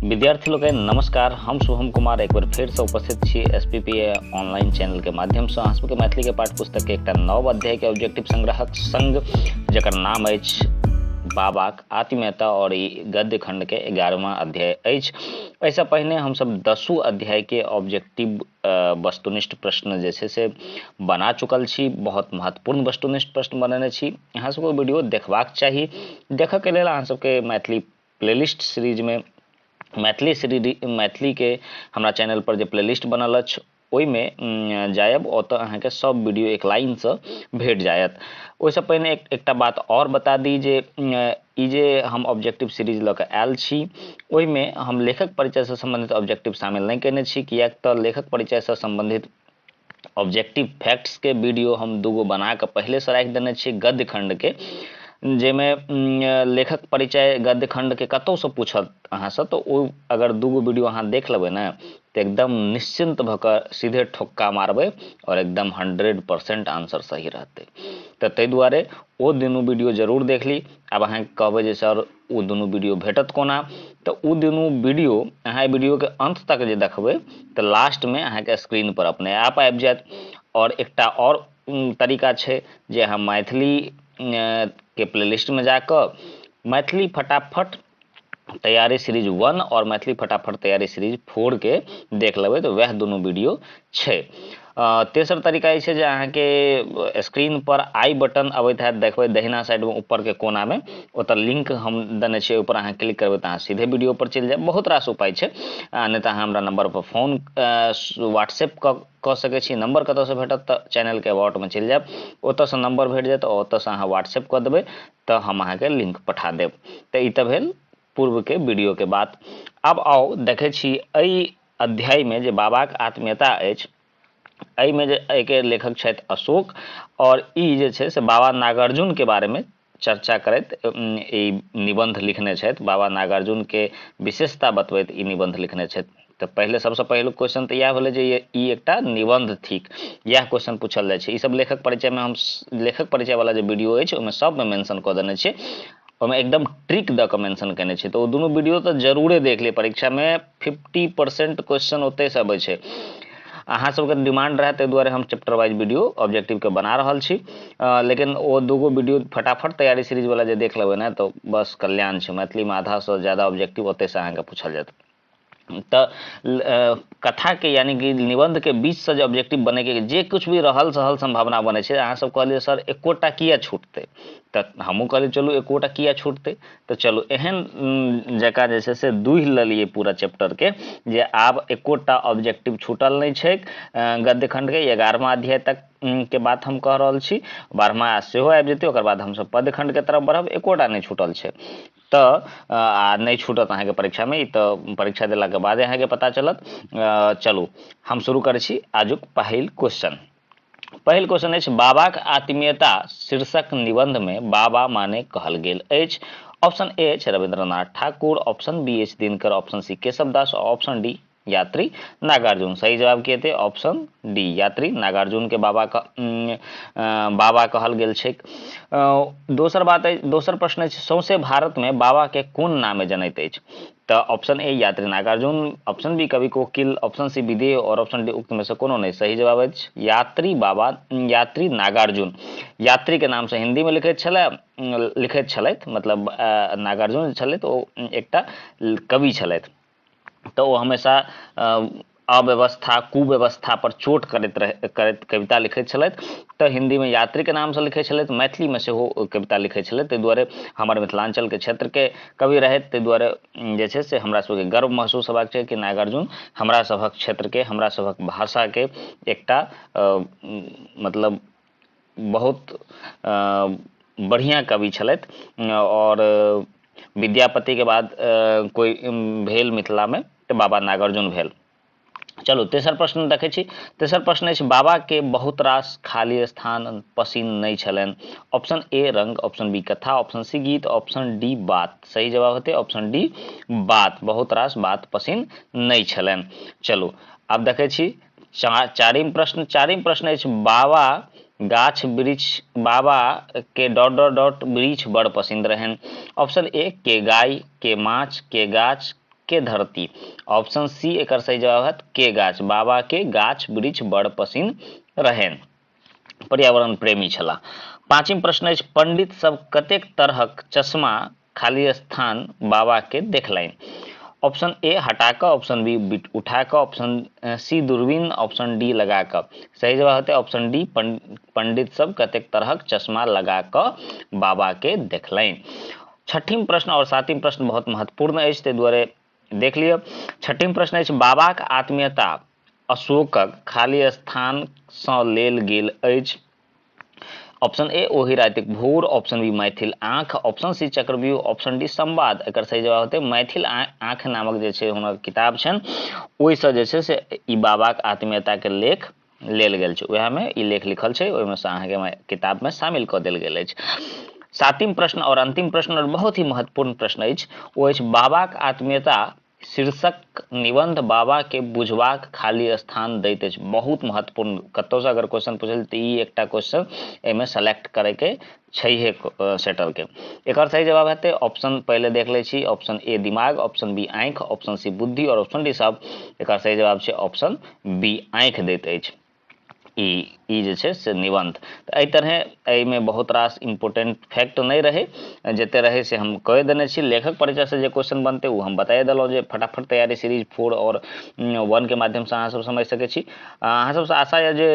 विद्यार्थी लोग नमस्कार हम शुभम कुमार एक बार फिर से उपस्थित छी S P P A online channel के माध्यम से अहाँ सबके मैथिली के पाठ पुस्तक के एक नव अध्याय के ऑब्जेक्टिव संग्रहक संग जकर नाम अछि बाबाक आत्मीयता और ई गद्य खंड के एगारहवा अध्याय अछि एहिसँ पहिने हमसब दसू अध्याय के ऑब्जेक्टिव वस्तुनिष्ठ प्रश्न जे छै से बना चुकल छी बहुत महत्वपूर्ण वस्तुनिष्ठ प्रश्न बनेने छी अहाँ सबके वीडियो देखबाक चाही देखऽ के लेल अहाँ सबके मैथिली प्लेलिस्ट सीरीजमे मैथिली सीरीज मैथिलीके हमरा चैनलपर जे प्लेलिस्ट बनल अछि ओहिमे जायब ओतऽ अहाँके सब वीडियो एक लाइनसँ भेट जायत ओहिसँ पहिने एक एकटा बात आओर बता दी जे ई जे हम ऑब्जेक्टिव सीरीज लऽ कऽ आयल छी ओहिमे हम लेखक परिचयसँ सम्बन्धित ऑब्जेक्टिव शामिल नहि कयने छी किएक तऽ लेखक परिचयसँ सम्बन्धित ऑब्जेक्टिव फैक्ट्सके वीडियो हम दूगो बना कऽ पहिलेसँ राखि देने छियै गद्य खण्डके जाहिमे लेखक परिचय गद्य खण्डके कतहुसँ पूछत अहाँसँ तऽ ओ अगर दूगो वीडियो अहाँ देख लेबै ने तऽ एकदम निश्चिन्त भऽ कऽ सीधे ठोक्का मारबै आओर एकदम हंड्रेड परसेंट आंसर सही रहतै तऽ ताहि दुआरे ओ दुनू वीडियो जरूर देख ली आब अहाँके कहबै जे सर ओ दुनू वीडियो भेटत कोना तऽ ओ दुनू वीडियो अहाँ वीडियोके अंत तक जे देखबै तऽ लास्टमे अहाँके स्क्रीन पर अपने आप आबि जायत आओर एकटा आओर तरीका छै जे अहाँ मैथिली के प्लेलिस्टमे जा कऽ मैथिली फटाफट तैयारी सीरीज वन आओर मैथिली फटाफट तैयारी सीरीज फोरके देख लेबै तऽ वएह दुनू वीडियो छै तेसर तरीका ई छै जे अहाँके स्क्रीनपर आई बटन अबैत हैत देखबै दहिना साइडमे ऊपरके कोनामे ओतऽ लिंक हम देने छियै ओहिपर अहाँ क्लिक करबै तऽ अहाँ सीधे वीडियोपर चलि जायब बहुत रास उपाय छै आ नहि तऽ अहाँ हमरा नम्बरपर फोन व्हाट्सएप कऽ कऽ सकै छी नम्बर कतऽसँ भेटत तऽ चैनलके अबाउटमे चलि जायब ओतऽसँ नम्बर भेट जायत ओतऽसँ अहाँ व्हाट्सएप कऽ देबै तऽ हम अहाँके लिंक पठा देब तऽ ई तऽ भेल पूर्वके वीडियोके बात आब आउ देखै छी एहि अध्यायमे जे बाबाक आत्मीयता अछि एहिमे जे एहिके लेखक छथि अशोक आओर ई जे छै से बाबा नागार्जुनके बारेमे चर्चा करैत ई निबन्ध लिखने छथि बाबा नागार्जुनके विशेषता बतबैत ई निबन्ध लिखने छथि तऽ पहिले सबसँ पहिलुक क्वेश्चन तऽ इएह भेलै जे ई एकटा निबन्ध थिक इएह क्वेश्चन पूछल जाइ छै ईसब लेखक परिचयमे हम लेखक परिचयवला जे वीडियो अछि ओहिमे सबमे मेंशन कऽ देने छियै ओहिमे एकदम ट्रिक दऽ कऽ मेंशन केने छै तऽ ओ दुनू वीडियो तऽ जरूरे देख लिअ परीक्षामे फिफ्टी परसेंट क्वेश्चन ओतय से अबै छै अहाँ सबके डिमांड रहै ताहि दुआरे हम चैप्टर वाइज वीडियो ऑब्जेक्टिवके बना रहल छी लेकिन ओ दूगो वीडियो फटाफट तैयारी सीरीजवला जे देख लेबै ने तऽ बस कल्याण छै मैथिलीमे आधासँ ज्यादा ऑब्जेक्टिव ओतयसँ अहाँके पूछल जायत तऽ कथाके यानि कि निबन्धके बीचसँ जे ऑब्जेक्टिव बनैके जे किछु भी रहल सहल सम्भावना बनै छै अहाँसभ कहलियै सर एकोटा किए छूटतै तऽ हमहूँ कहलियै चलू एकोटा किए छूटतै तऽ चलू एहन जकाँ जे छै से दूहि लेलियै पूरा चैप्टरके जे आब एकोटा ऑब्जेक्टिव छूटल नहि छैक गद्य खण्डके एगारहमा अध्याय तक के बात हम कह रहल छी बारहमा सेहो आबि जेतै ओकर बाद हमसभ पद्य खण्डके तरफ बढ़ब एकोटा नहि छूटल छै तऽ आ नहि छूटत अहाँके परीक्षामे ई तऽ परीक्षा देलाके बादे अहाँके पता चलत चलू हम शुरू करै छी आजुक पहिल क्वेश्चन पहिल क्वेश्चन अछि बाबाक आत्मीयता शीर्षक निबंध में बाबा माने कहल गेल अछि ऑप्शन ए अछि रविंद्रनाथ ठाकुर ऑप्शन बी अछि दिनकर ऑप्शन सी केशव दास और ऑप्शन डी यात्री नागार्जुन सही जवाब की हेतै ऑप्शन डी यात्री नागार्जुन के बाबा का, बाबा कहल गेल छै दोसर बात अछि दोसर प्रश्न अछि सौंसे भारत में बाबा के कोन नामे जनैत अछि तो option A Yatri Nagarjun option B Kavi Kokil option C Videha और ऑप्शन डी उक्त में से कोनो नहीं सही जवाब अछि यात्री बाबा यात्री नागार्जुन यात्री के नाम से हिंदी में लिखे छले लिखे छल मतलब नागार्जुन छल तो एक कवि छल तो हमेशा अव्यवस्था कुव्यवस्था पर चोट करैत रह करैत कविता लिखैत छलथि तऽ हिन्दीमे यात्रीके नामसँ लिखैत छलथि मैथिलीमे सेहो कविता लिखैत छलथि ताहि दुआरे हमर मिथिलाञ्चलके क्षेत्रके कवि रहथि ताहि दुआरे जे छै से हमरा सबके गर्व महसूस हेबाक चाही कि नागार्जुन हमरा सभक क्षेत्रके हमरा सभक भाषाके एकटा मतलब बहुत बढ़िआँ कवि छलथि आओर विद्यापतिके बाद कोइ भेल मिथिलामे तऽ बाबा नागार्जुन भेल चलू तेसर प्रश्न देखै छी तेसर प्रश्न अछि बाबाके बहुत रास खाली स्थान पसीन नहि छलनि ऑप्शन ए रंग ऑप्शन बी कथा ऑप्शन सी गीत ऑप्शन डी बात सही जवाब हेतै ऑप्शन डी बात बहुत रास बात पसीन नहि छलनि चलू आब देखै छी चा, चारिम प्रश्न चारिम प्रश्न अछि बाबा गाछ वृक्ष बाबा के डॉट डॉट डॉट वृक्ष बड़ पसंद रहन ऑप्शन ए के गाय के माछ के गाछ के धरती ऑप्शन सी एक सही जवाब है के गाछ बाबा के गाछ वृक्ष बड़ पसंद रहन पर्यावरण प्रेमी छला पाँचम प्रश्न अछि पंडित सब कतेक तरहक चश्मा खाली स्थान बाबा के देखलनि ऑप्शन ए हटा कऽ ऑप्शन बी बिट उठा कऽ ऑप्शन सी दूरबीन ऑप्शन डी लगा कऽ सही जवाब हेतै ऑप्शन डी पंडित सब कतेक तरहक चश्मा लगा कऽ बाबा के देखलनि छठिम प्रश्न आओर सातम प्रश्न बहुत महत्वपूर्ण अछि ताहि दुआरे देख लिअ छठिम प्रश्न अछि बाबाक आत्मीयता अशोकक खाली स्थानसँ लेल गेल अछि ऑप्शन ए ओहि रातिक भोर ऑप्शन बी मैथिल आँख ऑप्शन सी चक्रव्यूह ऑप्शन डी संवाद एकर सही जवाब होतै मैथिल आँख नामक जे छै हुनक किताब छनि ओहिसँ जे छै से ई बाबाक आत्मीयताके लेख लेल गेल छै उएहमे ई लेख लिखल छै ओहिमे से अहाँके किताबमे शामिल कऽ देल गेल अछि सातिम प्रश्न आओर अंतिम प्रश्न आओर बहुत ही महत्वपूर्ण प्रश्न अछि ओ अछि बाबाक आत्मीयता शीर्षक निबंध बाबा के बुझबाक खाली स्थान दैत अछि बहुत महत्वपूर्ण कतौसँ अगर क्वेश्चन पूछल तऽ ई एकटा क्वेश्चन एहिमे सेलेक्ट करैके छैहे सेटल के एकर सही जवाब हेतै ऑप्शन पहले देख ले छी ऑप्शन ए दिमाग ऑप्शन बी आँख ऑप्शन सी बुद्धि और ऑप्शन डी साहब एकर सही जवाब छै ऑप्शन बी आँख दैत अछि ई ई जे छै से निबन्ध तऽ एहि तरहे एहिमे बहुत रास इम्पोर्टेंट फैक्ट नहि रहै जते रहै से हम कहि देने छी लेखक परिचय से जे क्वेश्चन बनतै ओ हम बताए देलहुँ जे फटाफट तैयारी सीरीज फोर और वन के माध्यम से अहाँ सब समझ सकै छी आ अहाँ सबसँ आशा यऽ जे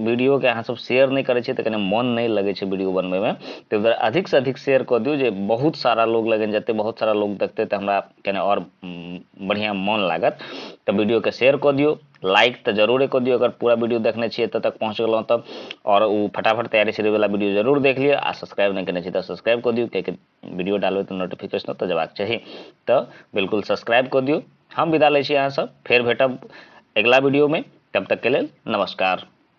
वीडियोके अहाँ सब शेयर नहि करै छियै तऽ कनि मोन नहि लगै छै वीडियो बनबैमे ताहि दुआरे अधिकसँ अधिक शेयर कऽ दियौ जे बहुत सारा लोग लगन जेतै बहुत सारा लोग देखतै तऽ हमरा कनि आओर उम, बढ़िआँ मोन लागत तऽ वीडियोके शेयर कऽ दियौ लाइक तऽ जरूरे कऽ दियौ अगर पूरा वीडियो देखने छियै एतऽ तक पहुँच गेलहुँ तब आओर ओ फटाफट तैयारी शुरूवला वीडियो जरूर देख लिअ आ सब्सक्राइब नहि केने छियै तऽ सब्सक्राइब कऽ दियौ कियाकि वीडियो डालबै तऽ नोटिफिकेशन ओतऽ जयबाक चाही तऽ बिल्कुल सब्सक्राइब कऽ दियौ हम विदा लै छी अहाँसभ फेर भेटब अगिला वीडियोमे तब तकके लेल नमस्कार